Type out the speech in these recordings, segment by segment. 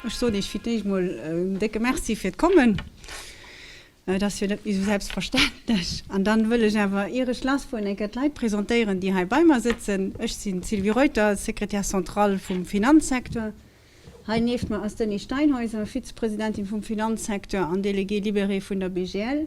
Ech soen Iech fir d'éischt emol en décke Merci fir d'Kommen. Et ass jo net méi esou selbstverständlech. An dann wëll ech awer, ier ech lassfueren, eng Kéier d'Leit presentéieren, déi hei bei mer sëtzen. Ech sinn d'Sylvie Reuter, Secrétaire centrale vum Finanzsecteur. Hei nieft mer ass d'Annie Steinhäuser, Vize-Presidentin vum Finanzsecteur an Déléguée libérée vun der BGL.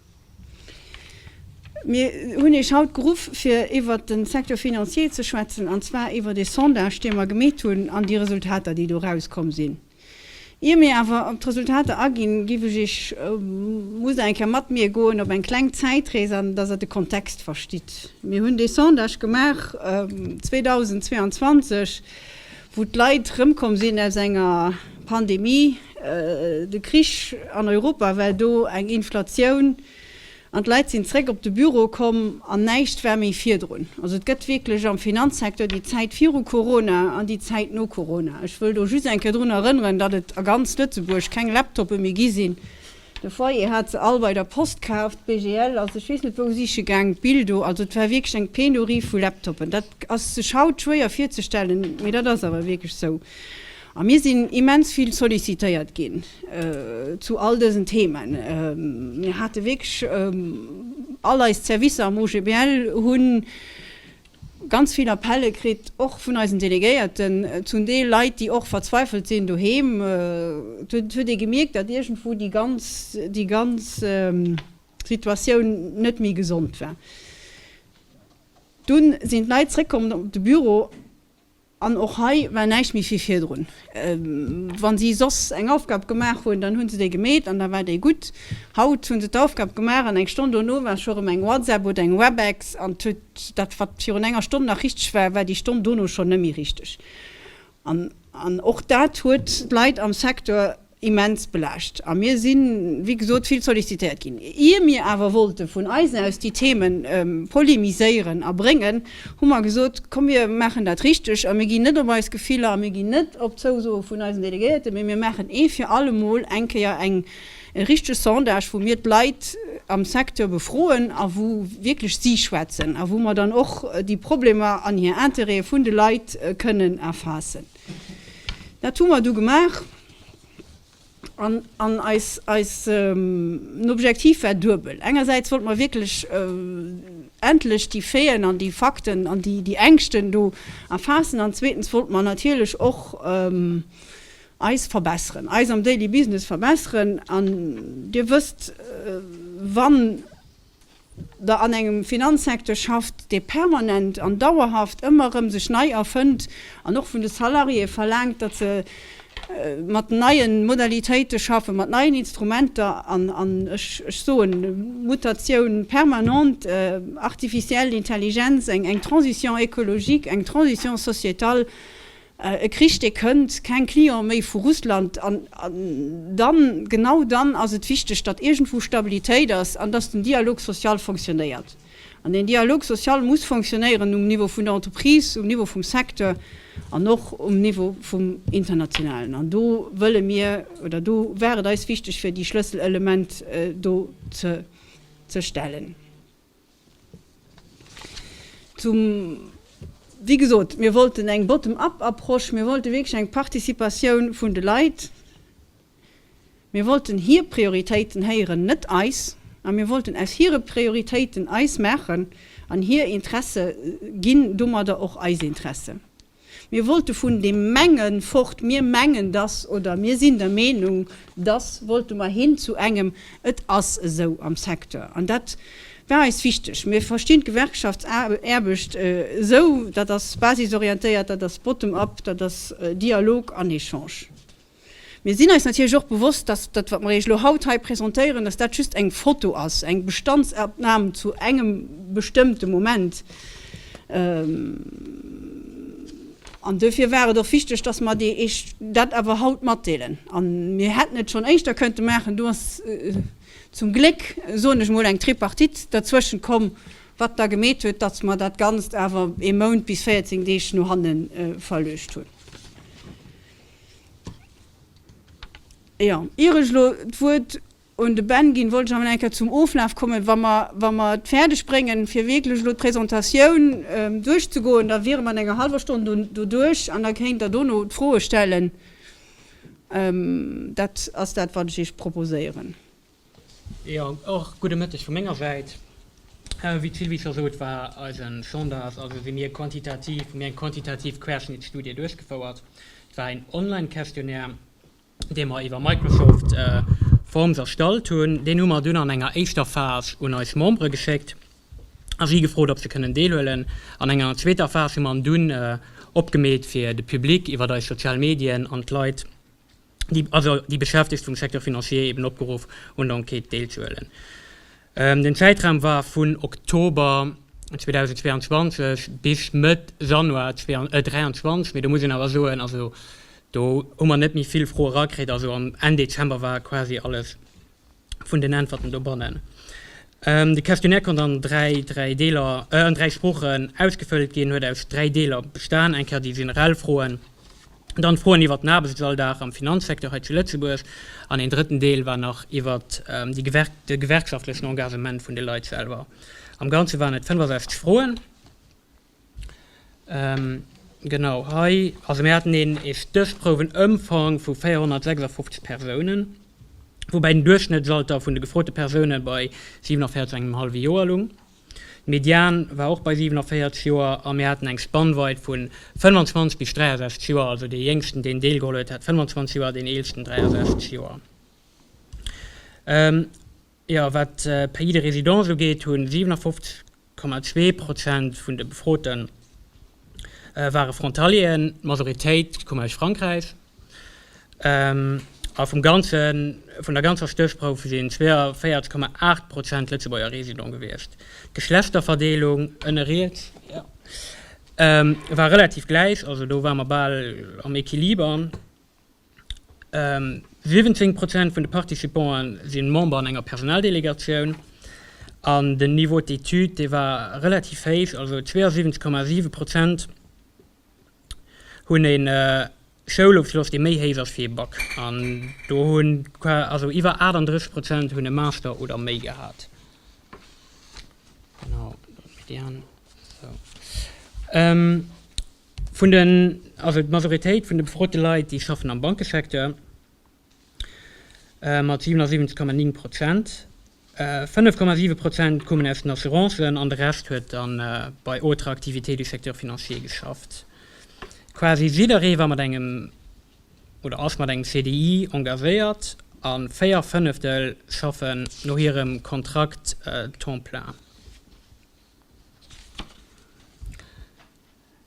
Mir hunn Iech haut geruff, fir iwwert de Secteur financier ze schwätzen, an zwar iwwert ee Sondage, dee mer gemeet hunn, an déi Resultater, déi do rauskomm sinn. Ier mir awer op d'Resultater aginn, géif ech Iech, musst Der eng Kéier mat mir goen op eng kleng Zäitrees, an dass Der de Kontext verstitt. Mir hunn dee Sondage gemaach 2022, wou d'Leit rëmkomm sinn aus enger Pandemie, de Krich an Europa war do, eng Inflatioun, an d'Leit sinn zréck op de Büro komm an näischt war méi virdrun. Also et gëtt wierklech am Finanzsecteur déi Zäit viru Corona an déi Zäit no Corona. Ech wëll do just eng Kéier drun erënneren, datt et a ganz Lëtzebuerg keng Laptoppe méi gi sinn, De Foyer hat se all bei der Post kaaft. BGL, also ech weess net wou siche gaang, d'Bild do, also et war wierklech eng Penurie vu Laptoppen. Dat ass sech haut schwéier virzestellen, mee dat ass awer wierklech sou. A mir sinn immens vill sollicitéiert ginn zu all dësen Themen. Mir hate wierklech all eis Servicer am OGBL hunn. ganz vill Appelle kritt, och vun eisen Delegéierten, zum Deel Leit, déi och verzweifelt sinn doheem. Et huet ee gemierkt, datt iergendwou déi ganz, déi ganz Situatioun net méi gesond war. Dunn sinn d'Leit zréckkomm op de Büro. An och hei war näischt méi vill virdrun. Wa si soss eng Aufgab gemaach hunn, dann hu se déi gemeet an da war déi gutt. Haut hu se d'Aufgab gemaach an eng Stonn dono war scho rëm eng WhatsApp oder eng Webex an huet dat, wat virun enger Stonn nach richteg war, war déi Stonn dono schonn net méi richteg. An och dat huet d'Leit am Secteur immens belaascht a mir si wéi gesot vill sollicitéiert ginn. Ier mir awer wollte vun eisen aus déi Themen polemiséieren a bréngen, hu mer gesot, komm mir maachen dat richteg a mir ginn net op eis Gefiller a mir ginn net op d'Zousoe vun eisen Delegéierten, mee mir maachen ee fir alle Mol eng Kéier eng richteg Sondage, wou mir d'Leit am Secteur befroen a wou wierklech si schwätzen a wou mer dann och déi Problemer an hir Interêtë vun de Leit kënnen erfaassen. Dat hu mer du gemaach an an eis eis Objektiv war duebel. Engersäits wollte mer wierklech endlech déi Faiten an déi Fakten an déi déi Ängschten do erfaassen an zweetens wollte mer natierlech och eis verbesseren, eis am Daily Business verbesseren an Dir wësst, wann. der an engem Finanzsecteur schafft, dee permanent an dauerhaft ëmmer erëm sech nei erfënnt an och vun de Salariéë verlaangt, datt se mat neie Modalitéite schaffen, mat neien Instrumenter an, an ech soen Mutatioun permanente, artificielle Intelligenz, eng Transition écologique, eng Transition sociétale. E Krich dee kënnt, keng Client méi vu Russland an dann, genau dann ass et wichteg, datt iergendwou Stabilitéit ass an datt den Dialogue social fonctionnéiert. An deen Dialogue social muss fonctionnéieren um Niveau vun der Entreprise, um Niveau vum Secteur an och um Niveau vum Internationalen. An do wëlle mir, oder do war et eis wichteg fir déi Schlësselelement do ze stellen. Zum, wéi gesot, mir wollten eng bottom-up Approche, mir wollte wierklech eng Participatioun vun de Leit, mir wollten hir Prioritéiten héieren, net eis, a mir wollten aus hire Prioritéiten eis maachen an hir Interesse ginn domadder och eis Interesse. Mir wollte vun deem Mengen fort, mir mengen dass oder mir sinn der Meenung dass, wollte mer hin zu engem et ass esou am Secteur. An dat war eis wichteg. Mir verstinn d'Gewerkschaftsaarbecht esou, dat ass basisorientéiert, dat ass bottom-up, dat ass Dialog an Echange. Mir sinn eis natierlech och bewosst, dass dat, wat mer Iech elo haut hei presentéieren, dass dat just eng Foto ass, eng Bestandsopnam zu engem bestëmmte Moment. An duerfir war et och wichteg, dass mer Iech dat awer haut matdeelen. A mir hätten et schonn éischter kënnte maachen. Do ass zum Gléck, soen ech emol, eng Tripartite derzwëschent komm, wat da gemeet huet, dass mer dat Ganzt awer ee Mount bis 14 Deeg no hanne verluecht hunn. Jo, ier ech elo d'Wuert un de Ben ginn, wollt ech awer nach eng Kéier zum Oflaf kommen. Wa mer, wa mer et fäerdeg bréngen, fir wierklech elo d'Presentatioun duerchzegoen, da wiere mer an enger hallwer Stonn do, doduerch. An da kéint Der dono d'Froe stellen. Dat ass dat, wat ech Iech proposéieren. Jo, och gudde Mëtteg vu menger Säit. Wéi d'Sylvie scho sot, war eise Sondage, also si mir quantitativ, hu mir eng quantitativ Querschnittsstudie duerchgefouert. Et war een Online-Questionnaire, dee mer iwwer Microsoft Forms erstallt hunn. Deen hu mer dunn an enger éischter Phas un eis Membere geschéckt a si gefrot, ob se kënnen deelhuelen. An enger zweeter Phas hu mer en dunn opgemeet fir de Public iwwer eis sozial Medien an d'Leit, also déi Beschäftegt vum Secteur financier, eben opgeruff un der Enquête deelzehuelen. Den Zäitraum war vun Oktober 2022 bis Mëtt Januar 2023, mee do muss een awer soen, also do hu mer net méi vill Froe rakritt, also am Enn Dezember war quasi alles vun den Äntwerten dobannen. De Questionnaire konnt an dräi dräi Deeler, an dräi Sproochen ausgefëllt ginn, huet aus dräi Deeler bestan, eng Kéier déi generell Froen, dann d'Froen iwwert den Aarbechtsalldag am Finanzsecteur hei zu Lëtzebuerg an een drëtten Deel war nach iwwert déi Gewerk de gewerkschaftlechen Engagement vun de Leit selwer. Am Ganze waren et 65 Froen. Genau hei, also mir haten een ee Stéchprouwenëmfang vu 456 Persounen, woubäi den Duerchschnëttsalter vun de gefrote Persoune bei 47 engem hallwe Joer lung. De Median war och bei 47 Joer a mir haten eng Spannweit vu 25 bis 63 Joer, also dee Jéngsten, deen deelgeholl huet, hat 25 Joer, deen Eelsten 63 Joer. Jo, wat d'Pays de résidence ugeet, hu 57,2 Prozent vun de Befroten ware Frontalieren, d'Majoritéit koum aus Frankräich. A vum ganze, vun der ganzer Stéchprouf sinn 42,8 Prozent Lëtzebuerger Residents gewiescht. D'Geschlechterverdeelung, ënne riets, jo, war relativ gläich, also do ware mer bal am Equiliber. 70 Prozent vun de Participante si Member an enger Personaldelegatioun an den Niveau d'études, dee war relativ héich, also 72,7 Prozent hunn ee Schoulofschloss, dee méi héich ass wéi ee Bac, an do hunn also iwwer 38 Prozent hunn e Master oder méi gehat. Vun den, also d'Majoritéit vun de befrote Leit, déi schaffen am Bankesecteur, mat 77,9 Prozent. 5,7 Prozent koumen aus den Assurancen an de Rescht huet da bei autres activités du secteur financier geschafft. Quasi jidderee war mat engem oder ass mat engem CDI engagéiert a véier Fënneftel schaffen no hirem Kontrakt temps plein.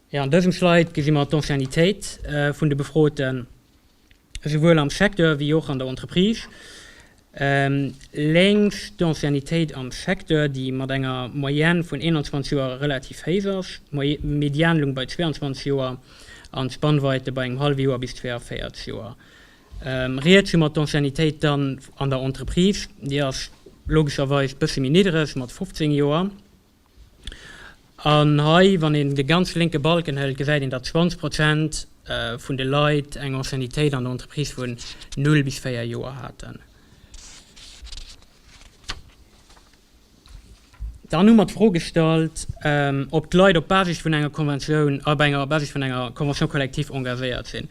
Jo, an dësem Slide gesi mer d'Anciennitéit vun de Befroten, esouwuel am Secteur wéi och an der Entreprise. Lénks d'Anciennitéit am Secteur, déi mat enger Moyenne vun 21 Joer relativ héich ass, d'Medianlung bei 22 Joer an d'Spannweite bei engem hallwe Joer bis 42 Joer. Riets hu mer d'Anciennitéit dann an der Entreprise, déi ass logescherweis bësse méi niddereg mat 15 Joer. An hei, wann een de ganz lénke Balken hëlt, gesäit een, datt 20 Prozent vun de Leit eng Anciennitéit an der Entreprise vun null bis véier Joer haten. Dann hu mer d'Fro gestallt, ob d'Leit op Basis vun enger Konventioun, op enger Basis vun enger Convention collective engagéiert sinn.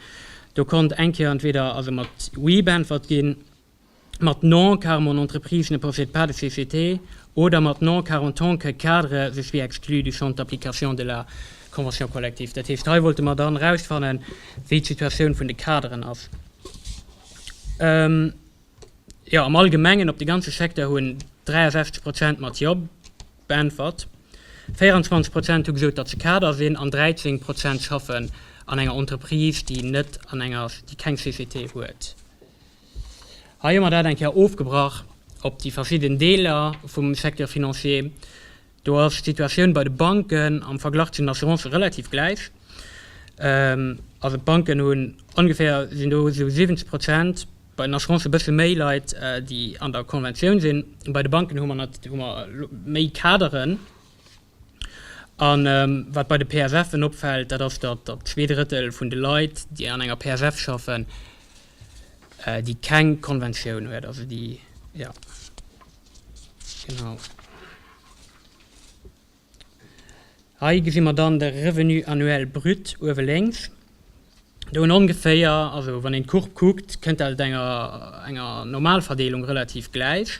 Do konnt eng Kéier entweder also mat oui beäntwert ginn. mat non car mon entreprise ne possède pas de société oder mat non car en tant que cadre je suis exclu du champ d'application de la convention collective. Dat heescht, hei wollte mer dann erausfannen, wéi d'Situatioun vun de Kaderen ass. Ähm, jo, am Allgemengen op de ganze Secteur hunn 63 Prozent mat jo beäntwert, 24 Prozent hu gesot, datt se Kader sinn an 13 Prozent schaffen an enger Entreprise, déi net an enger, déi keng Société huet. Hei hu mer dat eng Kéier ofgebrach op déi verschidden Deeler vum Secteur financier. Do ass d'Situatioun bei de Banken am Verglach zu den Assurancë relativ gläich. Also d'Banken hunn ongeféier, sinn do esou 70 Prozent, bei den Assurancen e bësse méi Leit, déi an der Conventioun sinn. Bei de Banken hu mer méi Kaderen. A wat bei de PFFen opfält, dat ass, datt datt zwee Drëttel vun de Leit, déi an enger PFF schaffen, déi keng Konventioun huet, also déi, jo, genau. Hei gesi mer dann de Revenu annuel brut uewe lénks. Do hunn ongeféier, also wann een d'Courbe kuckt, kënnt dat enger enger Normalverdeelung relativ gläich.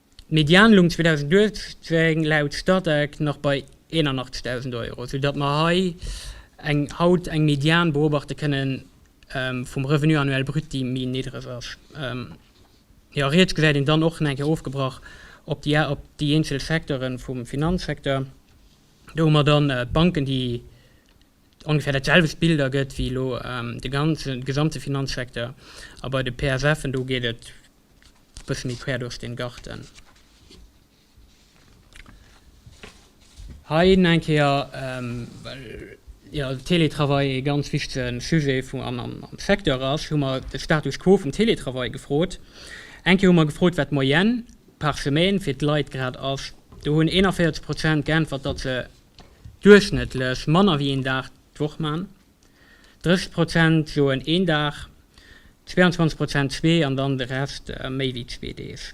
D'Medianlung 2018 laut Statec nach bei 81.000 Euro, sou datt mer hei eng haut eng Median beobachte kënnen vum Revenu annuel brut, déi méi niddreg ass. Jo, riets gesäit een dann och nach eng Kéier ofgebrach op déi op déi eenzel Secteure vum Finanzsecteur. Do hu mer dann d'Banken, déi ongefähr dat selwecht Bild ergëtt wéi elo de ganzen, de gesamte Finanzsecteur. A bei de PSFen, do geet et Bëssche méi quer duerch den Garten. Hei eng Kéier well jo Télétravail ee ganz wichtegen Sujet vum am am am Secteur ass, hu mer de Status quo vum Télétravail gefrot. Eng Kéier hu mer gefrot, wat d'Moyenne par semaine fir d'Leit grad ass. Do hunn 41 Prozent geäntwert, datt se duerchschnëttlech manner wéi een Dag d'Woch man. 30 Prozent soen een Dag, 22 Prozent zwee an dann de Rest méi wéi zwee Deeg.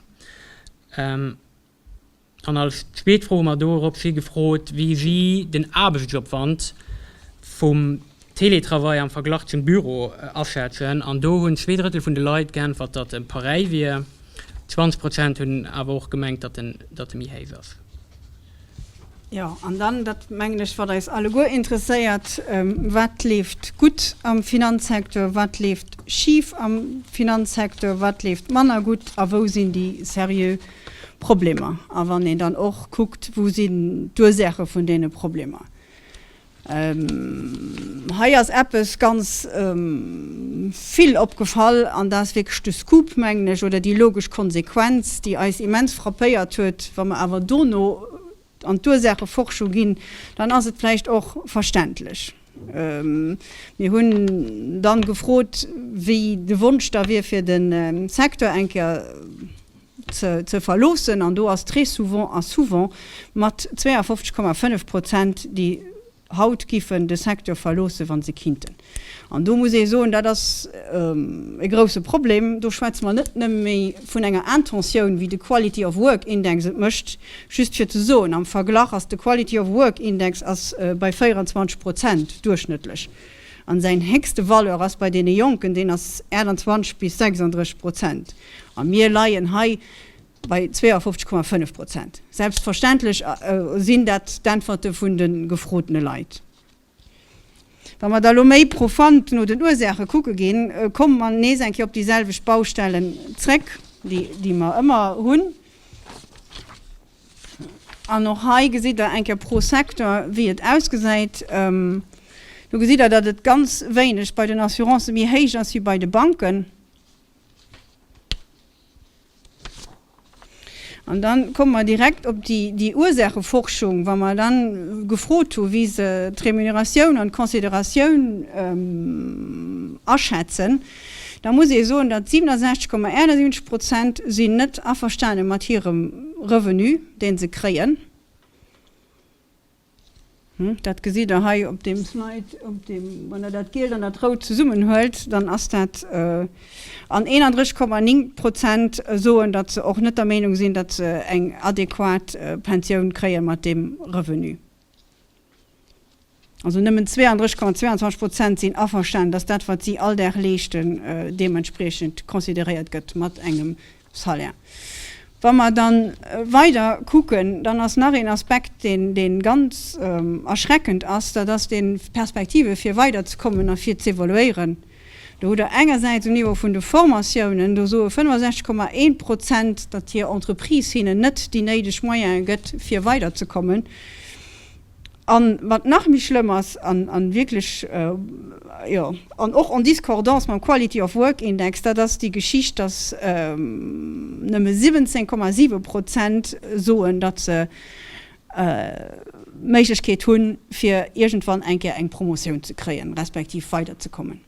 An als zweet Fro hu mer do erop si gefrot, wéi si den Aarbechtsopwand vum Teletravail am Verglach zum Büro aschätzen. An do hunn zwee Drëttel vun de Leit geäntwert, datt e pareil wier. 20 Prozent hunn awer och gemengt, datt e méi héich ass. Jo, an dann, dat mengen ech, wat eis alleguer interesséiert, Wat leeft gutt am Finanzsecteur, wat leeft schif am Finanzsecteur, wat leeft manner gutt a wou sinn déi seriö Problemer? A wann een dann och kuckt, wou sinn d'Ursaache vun deene Problemer? Hei ass eppes ganz vill opgefall, an dat ass wierklech de Scoop, mengen ech, oder déi logesch Konsequenz, déi eis immens frappéiert huet. Wa mer awer dono an d'Ursaacheforschung ginn, dann ass et vläicht och verständlech. Mir hunn dann gefrot, wéi de Wonsch da wier fir de Secteur eng Kéier ze verloossen an do ass très souvent a souvent mat 52,5 Prozent déi haut giffen de Secteur verloossen, wa se kinnten. An do muss ee soen, dat ass e grouse Problem. Do schwätze mer net nëmme méi vun enger Intentioun, wéi de Quality of Work Index et mécht, just fir ze soen, am Verglach ass de Quality of Work Index ass bei 24 Prozent duerchschnëttlech. An säin héchste Valeur ass bei deene Jonken, deen ass 28 bis 36 Prozent. A mir leien hei bei 52,5 Prozent. Selbstverständlech sinn dat d'Äntwerte vun de gefrotene Leit. Wa mer da elo méi profund no den Ursaache kucke ginn, komme mer nees eng Kéier op déi selwecht Baustellen zréck, déi mer ëmmer hunn. An och hei gesitt Der eng Kéier pro Secteur, wéi et ausgesäit. Do gesitt Der, datt et ganz wéineg bei den Assurancë méi héich ass wéi bei de Banken. An da komme mer direkt op déi Ursaacheforschung, wa mer da gefrot hu wéi se d'Remuneratioun an d'Consideratioun aschätzen. Da muss ee soen, datt 67,71 Prozent sinn net averstane mat hirem Revenu, dee se kréien. Dat gesitt Der hei op deem Slide. Wann Der dat Gielt an dat Rout zesummenhuelt, dann ass dat, an 31,9 Prozent soen, datt se och net der Meenung sinn, datt se eng adequat Pensioun kréie mat deem Revenu. Also nëmmen 32,22 Prozent sinn averstanen, dass dat, wat si all Dag leeschten, deementspriechend consideréiert gëtt mat engem Salaire. Wa mer da weider kucken, dann ass nach een Aspekt, dee ganz erschreckend ass, dat ass dee Perspektive fir weiderzekommen a fir z'evoluéieren. Do hutt Der engersäits um Niveau vun de Formatiounen, do soe 65, 1 Prozent, datt hir Entreprise hinnen net déi néideg Moyene gëtt, fir weider ze kommen. A wat nach méi schlëmm ass, an wierklech, jo, an och en discordance mam Quality of Work Index, dat ass déi Geschicht, datt nëmme 17, 7 Prozent soen, datt se Méiglechkeet hunn, fir iergendwann eng Kéier eng Promotioun ze kréien, respektiv weiderzekommen.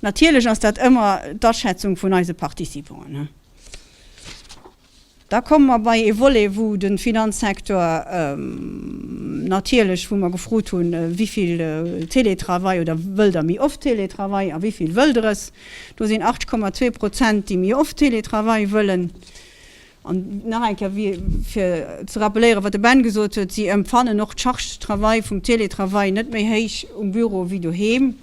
Natierlech ass dat ëmmer d'Aschätzung vun eise Participanten. Da komme mer bei ee Volet, wou de Finanzsektor natierlech, wou mer gefrot hunn, wivill Teletravail oder wëll Der méi oft Teletravail a wivill wëll Der es? Do sinn 8,2 Prozent, déi méi oft Teletravail wëllen. An nach eng Kéier, fir ze rappelléieren, wat de Ben gesot huet, Si empfannen och d'Charge de travail vum Teletravail net méi héich um Büro wéi doheem.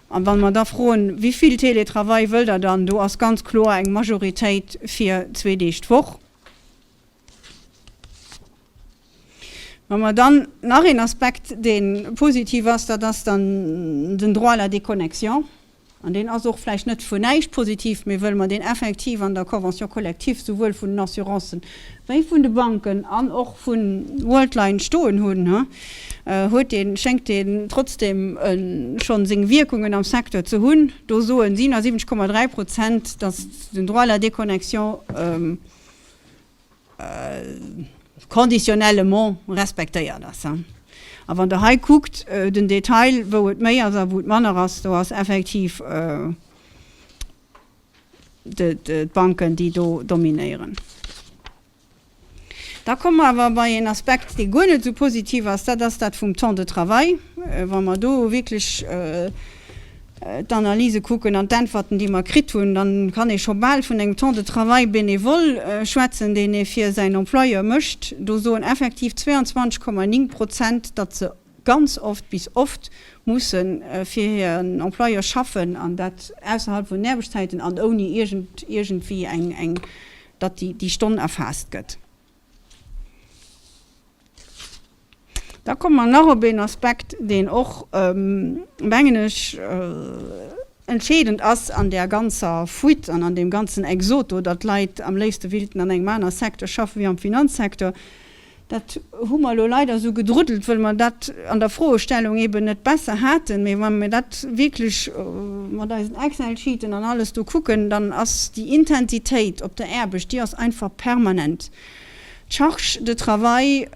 A wa mer da froen, wéi vill Teletravail wëllt Der dann, do ass ganz kloer eng Majoritéit fir zwee Deeg d'Woch. Wa mer dann nach een Aspekt, dee positiv ass, dat ass dann den Droit à la déconnexion. An deen ass och vläicht net vu näischt positiv, mee wëll mer deen effektiv an der Convention collective souwuel vun den Assurancen wéi vun de Banken an och vu Worldline stoen hunn, huet deen, schéngt deen trotzdem schonn seng Wierkungen am Secteur ze hunn. Do soen 77,3 Prozent, datt den Droit à la déconnexion conditionnellement respektéiert ass. A wann Der hei kuckt, den Detail, wou et méi ass a wou et manner ass, do ass effektiv d'Banken, déi do dominéieren. Da komme mer awer bei een Aspekt, dee guer net esou positiv ass, dat ass dat vum Temps de travail. Wa mer do wierklech. d'Analyse kucken an d'Äntwerten, déi mer kritt hunn, da kann ee scho bal vun engem Temps de travail bénévol schwätzen, deen ee fir säin Employeur mécht. Do soen effektiv 22,9 Prozent, datt se ganz oft bis oft musse fir hiren Employeur schaffen, an dat ausserhalb vun den Aarbechtszäiten an ouni iergendwéi eng, datt déi Stonn erfaasst gëtt. Da komme mer nach op een Aspekt, deen och, mengen ech, entscheedend ass an där ganzer Fuite an an deem ganzen Exode do, datt d'Leit am léifste wéilten an engem anere Secteur schaffen, wéi am Finanzsecteur. Dat hu mer elo leider esou gedruddelt, wëll mer dat an der Froestellung eeben net besser haten. Mee wa mir dat wierklech mat eisen Excel-Sheeten an alles do kucken, dann ass déi Intensitéit op der Aarbecht, déi ass einfach permanent. D'Charge de travail,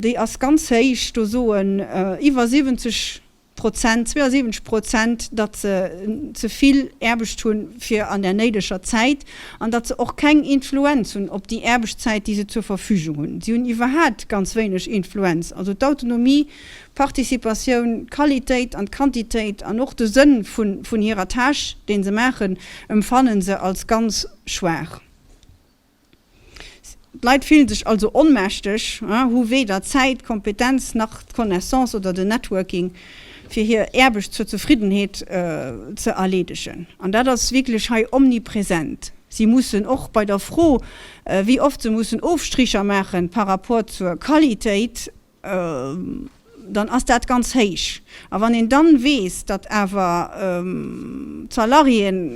déi ass ganz héich. Do soen iwwer 70 Prozent, 72 Prozent, datt se ze vill Aarbecht hunn fir an der néideger Zäit an datt se och keng Influenz hunn op déi Aarbechtszäit, déi se zur Verfügung hunn. Si hunn iwwerhat ganz wéineg Influenz. Also d'Autonomie d'Participatioun, d'Qualitéit an d'Quantitéit an och de Sënn vun hirer Tâche, dee se maachen, emfannen se als ganz schwaach. D'Leit fillen sech also onmächteg, hu weder d'Zäit, d'Kompetenz nach d'Connaissance oder den Networking, fir hir Aarbecht zur Zefriddenheet ze erleedegen. An dat ass wierklech hei omnipresent. Si mussen och bei der Fro, wéi oft se mussen Ofstricher maachen par rapport zur Qualitéit, dann ass dat ganz héich. A wann een dann weess, datt awer d'Salariéen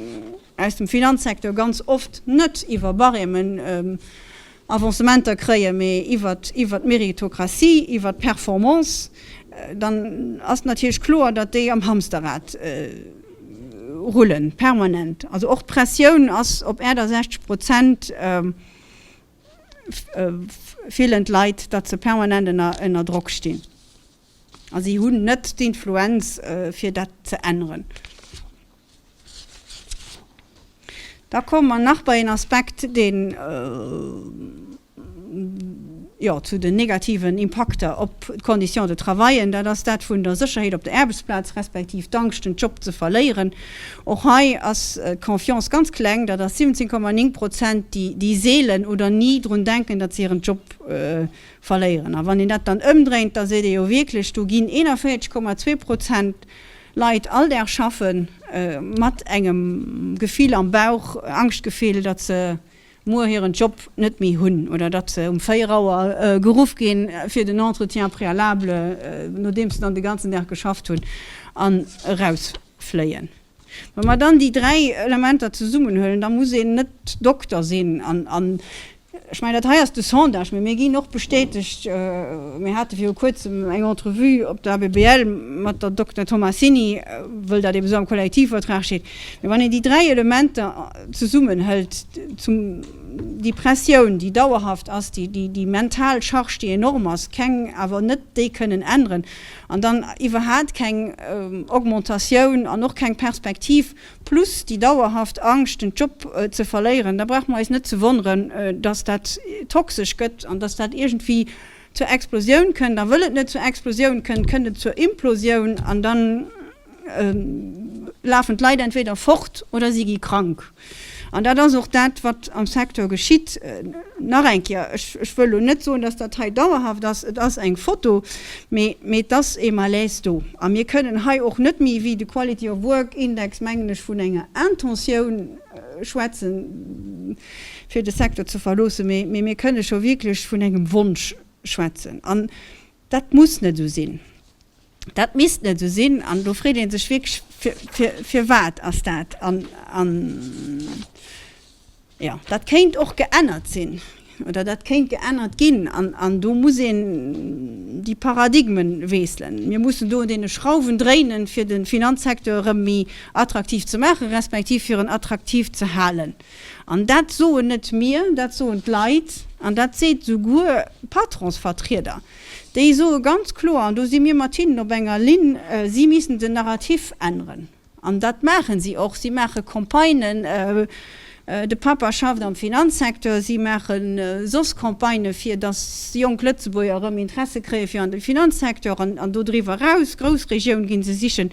aus dem Finanzsecteur ganz oft net iwwer Barèmen Avancementer kréien, mee iwwer d'Méritocratie, iwwer d'Performance, dann ass natierlech kloer, datt déi am Hamsterrad rullen, permanent. Also och d'Pressioun ass op Äerder 60 Prozent. fillen d'Leit, datt se permanent ënner Drock stinn a si hunn net d'Influenz fir dat ze änneren. Da komme mer nach bei een Aspekt, deen zu den negativen Impakter op d'Conditions de travaillen, dat ass dat vun der Sécherheet op der Aarbechtsplaz, respektiv d'Angscht den Job ze verléieren Och hei ass d'Confiance ganz kleng, dat ass 17,9 Prozent, déi seelen oder ni drun denken, datt se hiren Job verléieren. A wann een dat dann ëmdréint, da seet ee jo wierklech, do ginn 41,2 Prozent Leit all Dag schaffe mat engem Gefill am Bauch, Angschtgefill, datt se muer hiren Job net méi hunn oder datt se um 4 Auer geruff gi fir den Entretien préalable, nodeems se dann de ganzen Dag geschafft hunn an eraus. fléien. Wa mer dann déi dräi Elementer zesummenhuelen, da muss een net Dokter sinn an, ech mengen, dat hei ass de Sondage, mee mir ginn och bestätegt, mir hate viru Kuerzem eng Entrevue op der ABBL mat der Dokter Tomassini, wëll dat ebe sou am Kollektivvertrag steet. Mee wann een déi dräi Elementer zesummenhëlt, zum déi Pressioun, déi dauerhaft ass, déi mental Charge, déi enorm ass, keng, awer net déi kënnen änneren, An dann iwwerhaat keng Augmentatioun an och keng Perspektiv, plus déi dauerhaft Angscht den Job ze verléieren, da brauche mer eis net ze wonneren, datt dat toxesch gëtt an datt dat iergendwéi zur Explosioun kënnt. A wëll et net zur Explosioun kënnt, kënnt et zur Implosioun an dann, lafen d'Leit entweder fort oder si gi krank. An dat ass och dat, wat am Secteur geschitt. Nach eng Kéier, ech wëll elo net soen, dass dat hei dauerhaft ass, et ass eng Foto, mee et ass ee Malaise do. A mir kënnen hei och net méi wéi de Quality of Work Index, mengen ech, vun enger Intentioun schwätzen, fir de Secteur ze verloossen, mee mir kënne scho wierklech vun engem Wonsch schwätzen. An dat muss net esou sinn. Dat misst net esou sinn. An do freet ee sech wierklech, fir, firwat ass dat? An, an, jo, dat kéint och geännert sinn oder dat kéint geännert ginn. An, an do muss een déi Paradigmen weesselen. Mir mussen do un deene Schrauwen dréinen, fir de Finanzsecteur erëm méi attraktiv ze maachen, respektiv fir en attraktiv ze halen. An dat soen net mir, dat soen d'Leit, an dat seet esouguer Patronsvertrieder. Déi soe ganz kloer, an do si mir mat hinnen op enger Linn, si missten den Narrativ änneren. An dat maache si och. Si maache Campagnen, de Papa schafft am Finanzsecteur, si maache soss Campagnë fir datt jonk Lëtzebuerger erëm Interesse kréie fir an de Finanzsecteur an dodriwwer eraus, Groussregioun gi se sichen.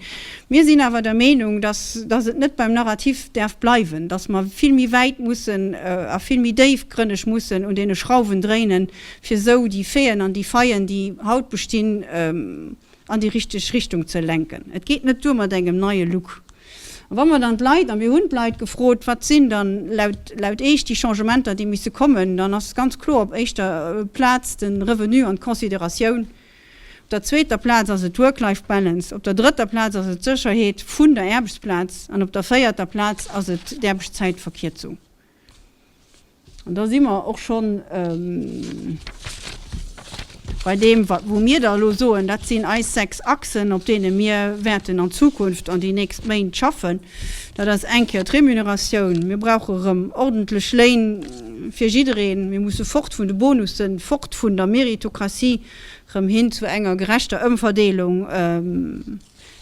Mir sinn awer der Meenung, datt datt et net beim Narrativ däerf bleiwen, datt mer vill méi wäit mussen a vill méi déifgrënneg mussen un deene Schrauwen dréinen, fir esou déi Feen an déi Faien, déi haut bestinn, an déi richteg Richtung ze lenken. Et geet net duer mat engem neie Look. A wa mer dann d'Leit, a mir hunn d'Leit gefrot, wat sinn dann laut Iech déi Changementer, déi misse kommen, dann ass ganz kloer op éischter Plaz de Revenu an d'Consideratioun, op der zweeter Plaz ass et d'Work-Life Balance, op der drëtter Plaz ass et d'Sécherheet vun der Aarbechtsplaz an op der véierter Plaz ass et d'Aarbechtszäitverkierzung. An da si mer och scho bei deem, wou mir da elo soen, dat sinn eis sechs Achsen, op deene mir wäerten an Zukunft an déi nächst Méint schaffen. Dat ass eng Kéier d'Remuneratioun. Mir brauche erëm ordentlech Léin fir jiddereen. Mir musse fort vun de Bonussen, fort vun der Meritokratie, erëm hin zu enger gerechter Ëmverdeelung.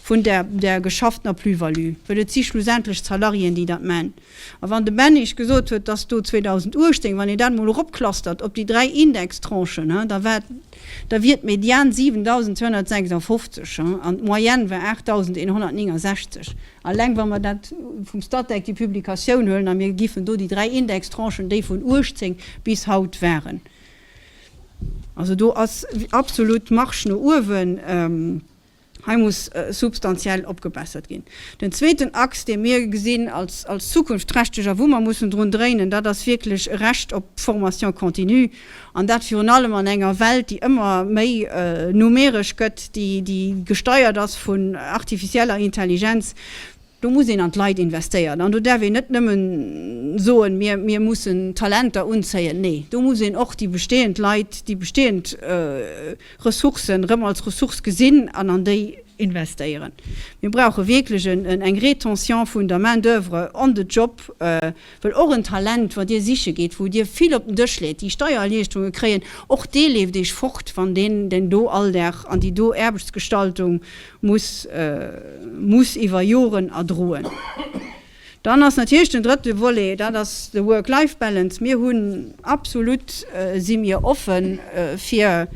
vun där där geschafftener Plus-value, well et si schlussendlech d'Salariéen, déi dat man. A wann de Ben iech gesot huet, dass do 2018, wann een dat emol eropclustert op déi dräi Indextranchen, ha, da war, da wier d'Median 7.256, ha, an d'Moyenne war 8.169, alleng wa mer dat vum Statec, déi Publikatioun, huelen a mir giffen do déi dräi Indextranchen, déi vun 18 bis haut waren, also do ass absolut Marge no uewen. Hei muss substantiell opgebessert ginn. Den zweeten Axe, dee mir gesinn als zukunftsträchteg a wou mer mussen drun dréinen, dat ass wierklech e Recht op d'Formation continue, an dat virun allem an enger Welt, déi ëmmer méi numeresch gëtt, déi gesteiert ass vun artificieller Intelligenz. Do muss een an d'Leit investéieren an do däerf een net nëmme soen, mir, mir mussen Talenter unzéien. Nee, do muss een och déi bestehend Leit, déi bestehend Ressourcen erëm als Ressource gesinn an an déi investéieren. Mir brauche wierklech eng Rétention vun der Main-d'oeuvre on the job. Well och en Talent, wat Dir siche geet, wou Dir vill op den Dësch leet, déi Steiererliichterunge kréien, och dee leeft Iech fort, wann deen den do Alldag an déi do Aarbechtsgestaltung muss muss iwwer Joren erdroen. Dann ass natierlech den drëtte Volet, dat ass de Work-Life-Balance. Mir hunn absolut, si mir offen fir,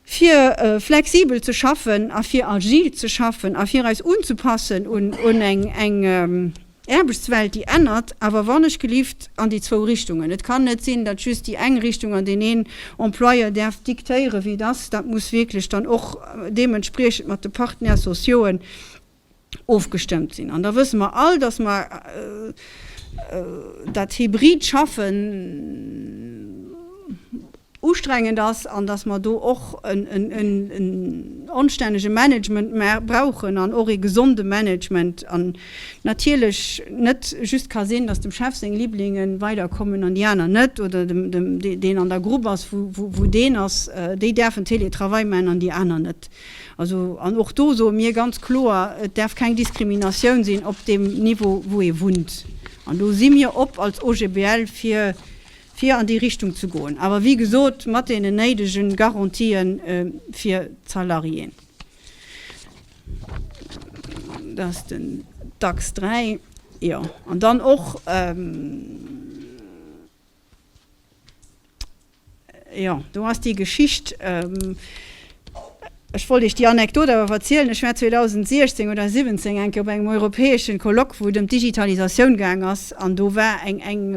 fir flexibel ze schaffen a fir agil ze schaffen a fir eis unzepassen un eng Aarbechtswelt, déi ännert, awer wannechgelift an déi zwou Richtungen. Et kann net sinn, datt just déi eng Richtung an deen een Employeur däerf diktéieren, wéi et ass. Dat muss wierklech dann och deementspriechend mat de Partenaires sociauxen ofgestëmmt sinn. An da wësse mer all, dass mer dat hybrid Schaffen ustrengend ass an dass mer do och en onstännege Management brauchen an och ee gesonde Management an natierlech net just ka sinn, dass dem Chef seng Liblinge weiderkommen an déi aner net oder deen an der Grupp ass, wou deen ass, déi däerfen Teletravail maachen an déi aner net. Also, an och do soe mir ganz kloer, Et däerf keng Diskriminatioun sinn op deem Niveau, wou ee wunnt. An do si mir op als OGBL fir, fir an déi Richtung ze goen, awer wéi gesot mat deenen néidege Garantië fir d'Salariéen. Dat ass den Dachs 3. Jo, an dann och. Jo, do ass déi Geschicht. Ech wollt Iech déi Anekdot awer verzielen. Ech war 2016 oder 2017 eng Kéier op engem europäeschen Colloque, wou et ëm d'Digitalisatioun gaang ass. An do war eng, eng,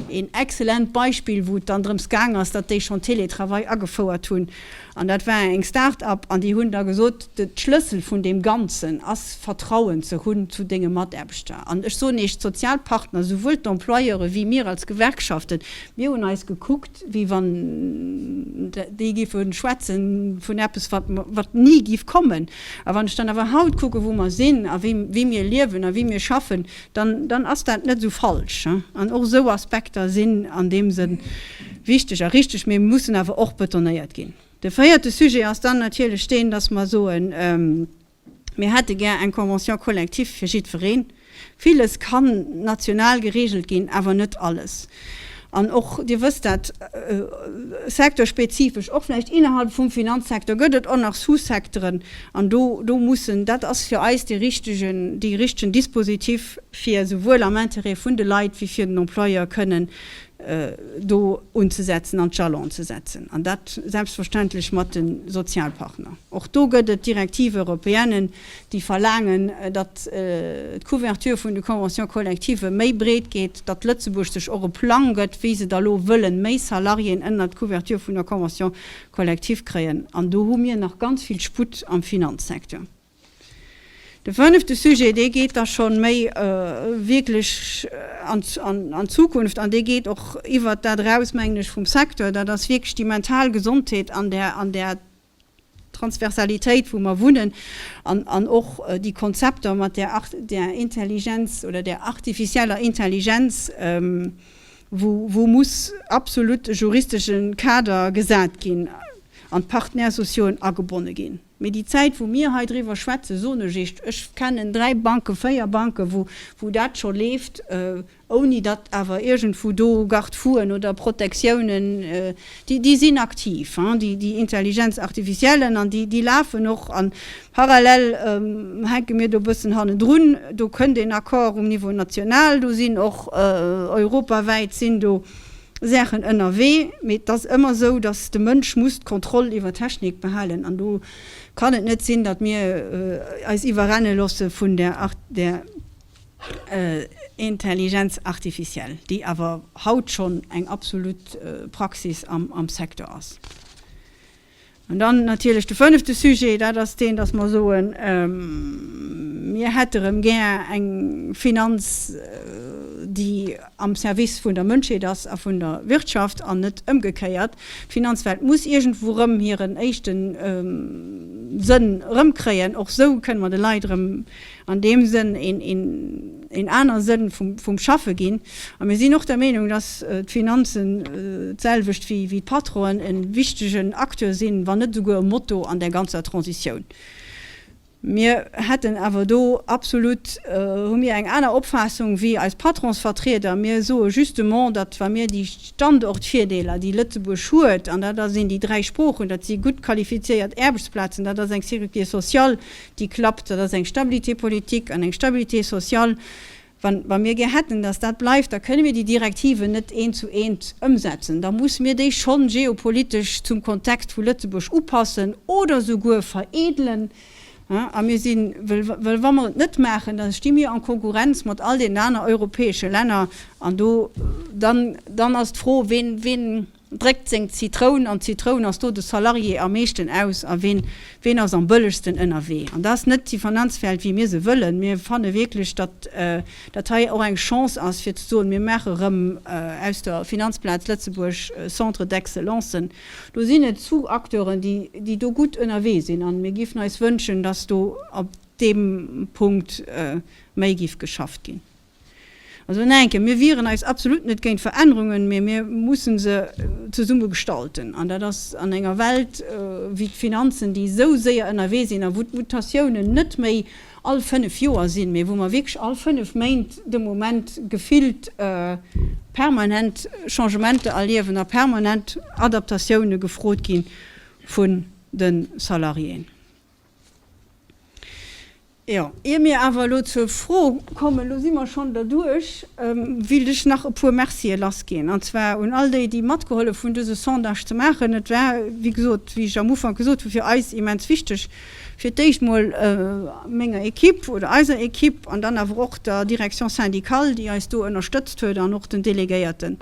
een excellent Beispill, wou et dann drëms gaang ass, datt déi schonn Teletravail agefouert hunn. An dat war eng Start-up an déi hunn da gesot, de Schlëssel vun deem Ganzen ass Vertrauen ze hunn zu denge Mataarbechter. An ech soen Iech, d'Sozialpartner, souwuel d'Employeure wéi mir als Gewerkschaften, mir hunn eis gekuckt, wéi wann déi géife schwätze vun eppes wat ni géif kommen. A wann ech dann awer haut kucken, wou mer sinn a wéi mir liewen a wéi mir schaffen, dann, dann ass dat net esou falsch. An och esou Aspekter sinn an deem Sënn wichteg a richtig, mee mussen awer och betonéiert ginn. De véierte Sujet ass dann natierlech deen, dass mer soen, Mir hätte gär eng Convention collective fir jiddwereen. Villes kann national geregelt ginn, awer net alles. An och, Dir wësst dat, secteurspezifesch, och vläicht innerhalb vum Finanzsecteur gëtt et och nach Sous-Secteuren. An do, do mussen, dat ass fir eis dee richtigen, dee richtigen Dispositif, fir souwuel am Intérêt vun de Leit wéi fir den Employeur kënnen do unzesetzen an d'Jalon ze setzen. An dat selbstverständlech mat de Sozialpartner. Och do gëtt et Directives européennes, déi verlaangen, datt d'Couverture vun de Conventions collectives méi breet gétt, datt Lëtzebuerg sech och e Plang gëtt, wéi se da lo wëllen méi Salariéen ënnert d'Couverture vun der Convention collective kréien. An do hu mir nach ganz vill Sputt am Finanzsecteur. De fënnefte Sujet, dee geet da scho méi wierklech an d'Zukunft an dee geet och iwwert dat eraus, mengen ech, vum Secteur, dat ass wierklech déi mental Gesondheet an der Transversalitéit, wou mer wunnen, an och déi Konzepter mat där Intelligenz oder där artificieller Intelligenz, wou muss absolut e juristesche Kader gesat ginn an d'Partenaires sociaux agebonne ginn. Mee déi Zäit, wou mir hei driwwer schwätzen, soen ech Iech, ech kennen dräi Banken, véier Banken, wou dat scho leeft, ouni datt awer iergendwou do Garde-fouen oder Protectiounen, déi sinn aktiv, déi Intelligenz artificiellen, an déi lafen och, an parallel hänke mir do e bëssen hannendrun. Do kënnt een Accord um Niveau national, do sinn och europawäit sinn do Saachen ënnerwee, mee et ass ëmmer esou, datt de Mënsch muss d'Kontroll iwwer d'Technik behalen, an do kann et net sinn, datt mir eis iwwerrenne loosse vun där. Intelligenz artificielle, déi awer haut schonn eng absolut Praxis am Secteur ass. An dann natierlech de fënnefte Sujet, dat ass deen, dass mer soen, Mir hätte erëm gär eng Finanz, déi am Service vun der Mënschheet ass a vun der Wirtschaft an net ëmgekéiert. D'Finanzwelt muss iergendwou erëm hiren éischte Sënn erëmkréien. Och esou kënne mer de Leit erëm an deem Sënn een anere Sënn vum Schaffe ginn, a mir sinn och der Meenung, datt d'Finanzen, d'selwecht wéi d'Patronen, e wichtegen Acteur sinn, wann net esouguer e Motor an där ganzer Transitioun. Mir hätten awer do absolut, hu mir eng aner Opfaassung wéi eis Patronsvertrieder. Mir soe justement, datt wa mir déi Standortvirdeeler, déi Lëtzebuerg huet, an dat sinn déi dräi Sproochen, dat si gutt qualifizéiert Aarbechtsplazen, dat ass eng Sécurité sociale, déi klappt, dat ass eng Stabilité politique an eng Stabilité sociale, wa mir gär hätten, datt dat bleift, da kënne mir déi Direktiven net eent zu eent ëmsetzen, da muss mir déi schonn geopolitesch zum Kontext vu Lëtzebuerg upassen oder souguer veredelen. A mir si, well wa mer et net maachen, da sti mir en Konkurrenz mat all deenen aner europäesche Länner an do, dann ass d'Fro, ween, Dréckt seng Zitroun an d'Zitroun ass do de Salarié am meeschten aus a ween, ween ass am bëllegsten ënnerwee. An dat ass net déi Finanzwelt wéi mir se wëllen. Mir fanne wierklech, datt dat hei och eng Chance ass fir ze soen, mir maache rëm aus der Finanzplaz Lëtzebuerg Centre d'excellencen. Do sinn et zu Acteuren déi, déi do gutt ënnerwee sinn a mir géifen eis wënschen, datt do op deem Punkt méi géif geschafft ginn. Also en enke, mir wieren eis absolut net géint Verännerungen, mee mir mussen se zesumme gestalten. An dat ass an enger Welt wéi d'Finanzen, déi esou séier ënnerwee sinn a wou d'Mutatiounen net méi all fënnef Joer sinn, mee wou mer wierklech all fënnef Méint de Moment gefillt permanent Changementer erliewen a permanent Adaptatioune gefrot gi vu Salariéen. Jo, ier mir awer elo zur Fro kommen, elo si mer schonn derduerch, wéilt ech nach e puer Mercië lassginn, an zwar un all déi, déi matgehollef hunn, dëse Sondage ze maachen. Et war, wéi gesot, wéi ech am Ufank gesot hu, fir eis immens wichteg, fir d'éischt emol menger Equipe oder eiser Equipe an dann awer och der Direction syndicale, déi eis do ënnerstëtzt huet, an och den Delegéierten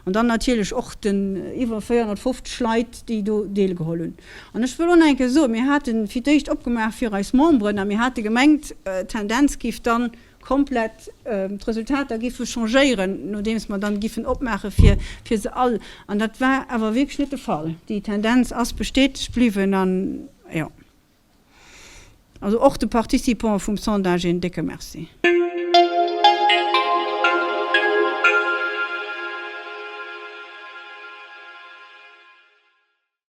an dann natierlech och den iwwer 450 Leit, déi do deelgeholl hunn. An ech wëll och nach eng Kéier soen, mir hate fir d'éischt opgemaach fir eis Memberen a mir hate gemengt, d'Tendenz géif dann komplett, d'Resultater géife changéieren, nodeems mer dann géifen opmaache fir se all. An dat war awer wierklech net de Fall. Déi Tendenz ass bestätegt bliwwen an, jo, also och de Participanten vum Sondage een décke Merci.